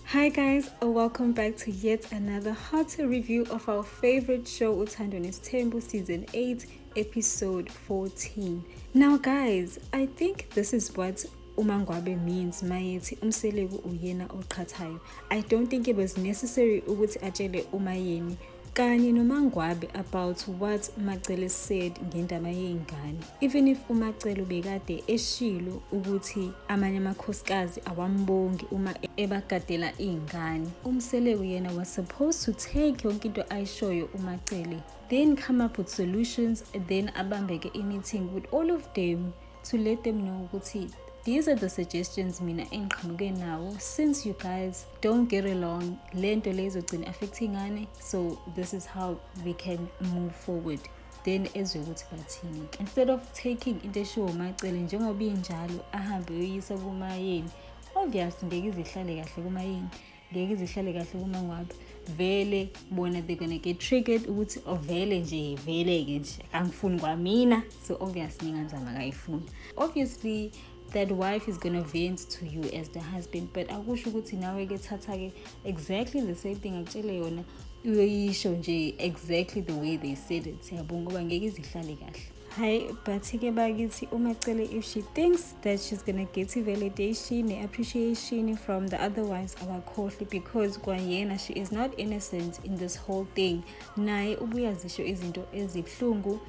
Hi guys, uh, welcome back to yet another hot review of our favorite show Uthando Nesthembu season 8 episode 14. Now guys, I think this is what umangwabe means mayethi umseleku uyena oqhathayo. I don't think it was necessary ukuthi atshele umayeni kanye nomangwabe about what umacele said ngendaba yey'ngane even if umacele ubekade eshilo ukuthi amanye amakhosikazi awambongi uma ebagadela iy'ngane umseleku yena was supposed to take yonke into ayishoyo umacele then come up with solutions then abambeke i-meeting with all of them to let them know ukuthi these are the suggestions mina engiqhamuke nawo since you guys don't get along le nto le izogcina affecting ngane so this is how we can move forward then ezwe ukuthi bathini instead of taking into eshiwo umacele njengoba injalo ahambe uyoyisa kumayeni obvious ngeke izihlale kahle kumayeni ngeke izihlale kahle kumangwabe vele bona they're gonna get triggered ukuthi ovele oh, nje vele-ke nje angifuni kwamina so obvious ninganzama kayifuni obviously that wife is gonna vent to you as the husband but akusho ukuthi nawe ke thatha ke exactly the same thing akutshele yona uyoyisho nje exactly the way they said it siyabonga ngoba ngeke izihlale kahle hayi but-ke bakithi umacele if she thinks that she's gonna get i-validation ne-appreciation from the other ones akakhohlwe because kwayena she is not innocent in this whole thing naye ubuyazisho izinto ezibuhlungu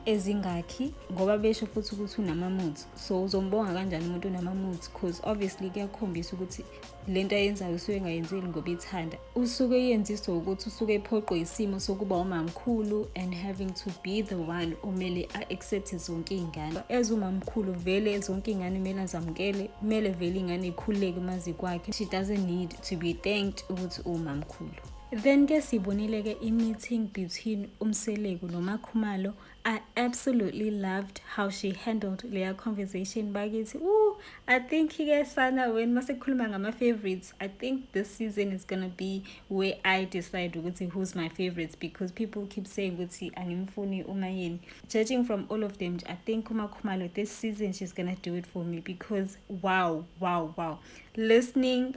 ezingakhi ngoba besho futhi ukuthi unama-moods so uzombonga kanjani umuntu unama-moods because obviously kuyakhombisa ukuthi le nto ayenzayo usuke engayenzeli ngoba ithanda usuke eyenziswa ukuthi usuke ephoqwe isimo sokuba umamkhulu and having to be the one umele a-accepte zonke iy'ngane as umamkhulu vele zonke iy'ngane kumele azamukele kumele vele iy'ngane ikhululeke umazi kwakhe she doesn't need to be thanked ukuthi uwumamkhulu Then ke sibonile ke i-meeting between uMseleku noMakhumalo. I absolutely loved how she handled leya conversation bakithi. Ooh, I think ke sana when masekukhuluma ngama-favorites, I think this season is gonna be where I decide ukuthi who's my favorites because people keep saying ukuthi angimfuni umayeni. Judging from all of them, I think uMakhumalo this season she's gonna do it for me because wow, wow, wow. Listening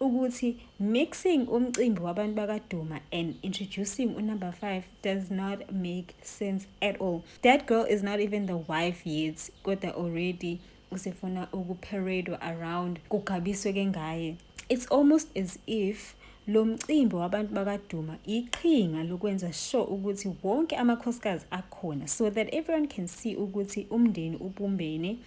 ukuthi mixing umcimbi wabantu bakaduma and introducing unumber 5 does not make sense at all that girl is not even the wife yet kodwa already usefuna ukuparadwa around kugabiswe ke ngaye it's almost as if lo mcimbi wabantu bakaduma iqhinga lokwenza sure ukuthi wonke amakhosikazi akhona so that everyone can see ukuthi umndeni ubumbene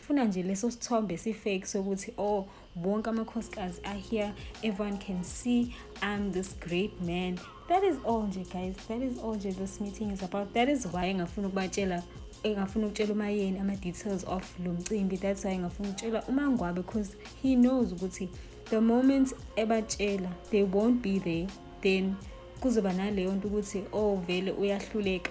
funa nje leso sithombe si-fake sokuthi oh bonke amakhosikazi are here everyone can see i'm this great man that is all nje guys that is all nje this meeting is about that is why engafuna ukubatshela engafuna ukutshela umayeni ama-details of lo mcimbi that's why engafuna ukutshela umangwabe because he knows ukuthi the moment ebatshela they won't be there then kuzoba naleyo nto ukuthi oh vele uyahluleka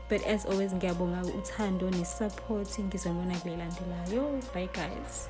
but as always ngiyabonga uthando nesupport ngizonibona kule landelayo bye guys